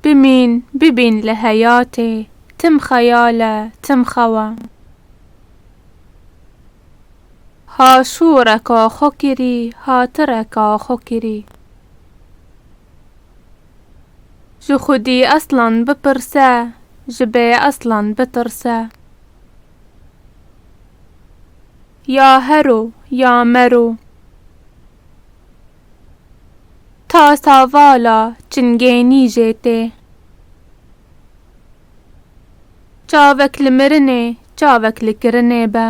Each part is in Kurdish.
Bimîn, bibîn li heyatê, tim xeyal e, tim xew e. Ha şûreka xwe kirî, ha tireka xwe kirî. Ji xwedî eslan bipirse, ji bê eslan bitirse. Ya hero ya mero. Ta savala çingênî jê tê. Çavek li mirinê çavek li kirinê be.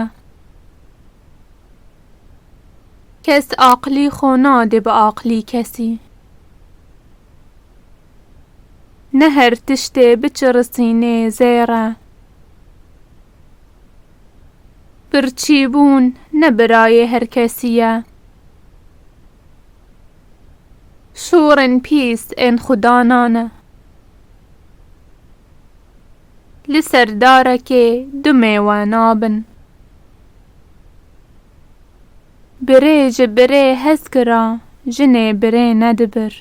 Kes aqlî xwe nade bi aqlî kesî. Ne her tiştê biçirisînê zêr e. Birçîbûn ne birayê her kesî ye. Şorên pîs ên xwe dana ne. Li ser darekê du mêwe nabin. Birê ji birê hez kira, jinê birê nedibir.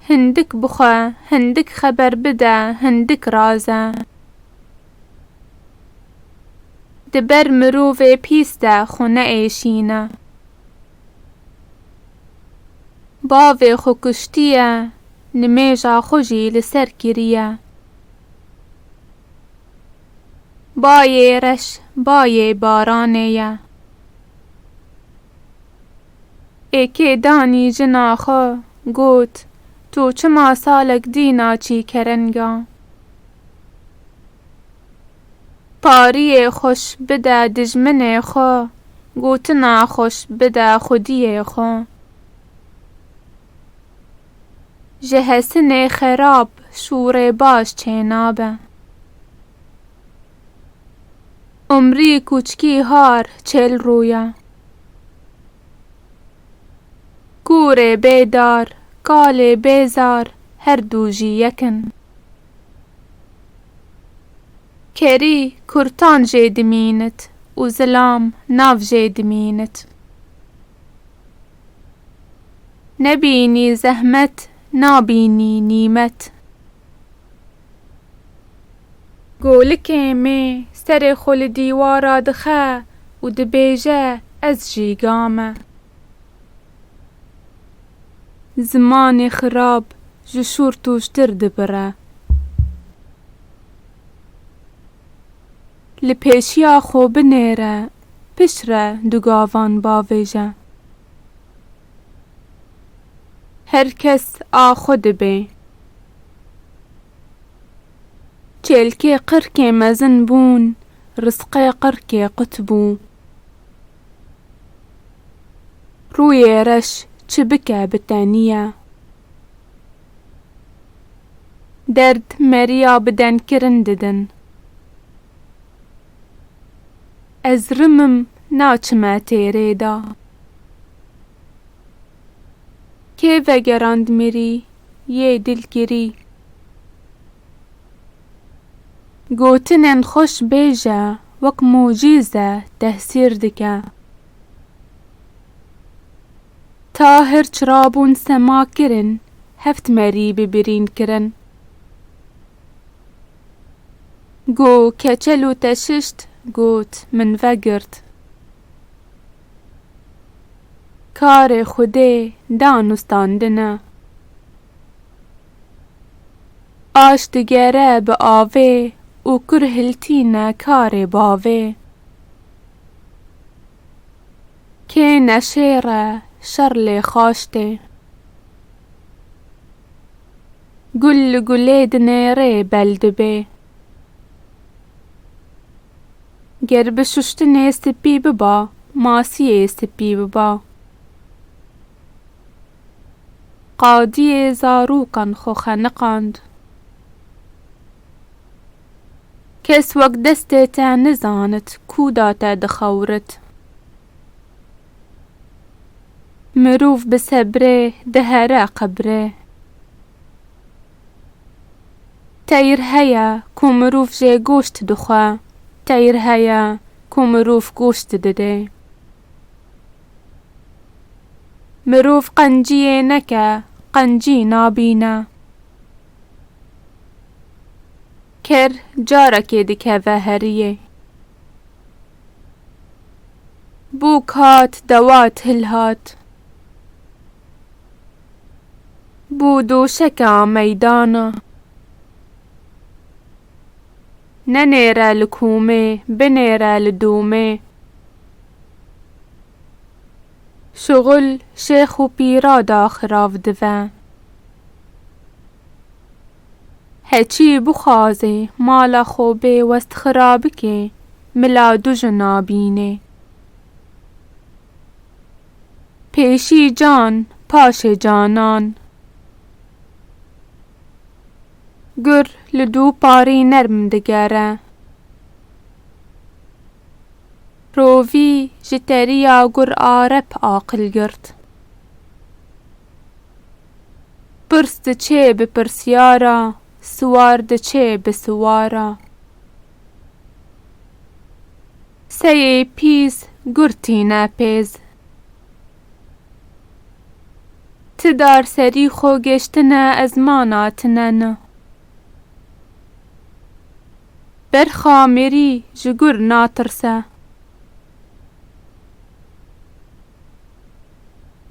Hindik bixwe, hindik xeber bide, hindik raz e. Di ber mirovê pîs de xwe neêşîne. Bavê xwe kuştiye, nimêja xwe jî li ser kiriye. Bayê reş, bayê baranê ye. Ê kê danî jina xwe, got, Tu çima salek dî naçî kerenga? Pariyê xweş bide dijminê xwe, gotina xweş bide xwediyê xwe. Ji hesinê xerab şûrê baş çênabe. Umrî kûçkî har çêl rûya. Kûrê bê dar, kalê bê zar her dû jî yek in. Kerî kurtan jê dimînit û zilam nav jê dimînit. Nebînî zehmet nabînî nîmet. Golikê me serê xwe li dîwara dixe û dibêje ez jîga me. Zimanê xirab ji şûr tûştir dibire. Li pêşiya xwe binêre piştre du gavan bavêje. Her kes a xwe dibe. Çêlkê qirkê mezin bûn, rizqê qirkê qut bû. Rûyê reş çi bike bi te nîye. Derd meriya bi denkirin didin. Ez rimim naçime têrê de. Kê vegerand mirî yê dilgirî. Gotinên xweş bêje wek mucîze tehsîr dike. Ta hirç rabûn sema kirin heft merî bi birîn kirin. Go keçel û teşişt got min vegirt. Karê Xwedê danûstandine. Aş digere bi avê û kur hiltîne karê bavê. Kê neşêre şer lê xaş tê. Gul li gulê dinêrê bel dibê. Ger bi şuştinê spî biba, masiyê spî biba. Qadiyê zarûkan xwe xeniqand. Kes wek destê te nizanit kûda te dixewirit. Mirov bi sebrê dihere qebrê. Teyr heye ku mirov jê goşt dixwe. Teyr heye ku mirov goşt dide. Mirov qenciyê neke, qencî nabîne. Ker carekê dikeve heriyê. Bûk hat dewa til hat. Bo doşeka meydana. Nenêre li komê, binêre li domê. Şuxul şêx û pîra da xirav dive. Heçî bixwazê mala xwe bê westxira bikê, mila dujina bînê. Pêşî can, paşê canan. Gur li dû parî nerm digere. Rovî ji terîya gur a rep aqil girt. Pirs diçê bi pirsyara, siwar diçê bi siwara. Seyê pîs gur tîne pêz. Ti dar serî xo geştine ez ma natine ni. Berxa mirî ji gur natirse.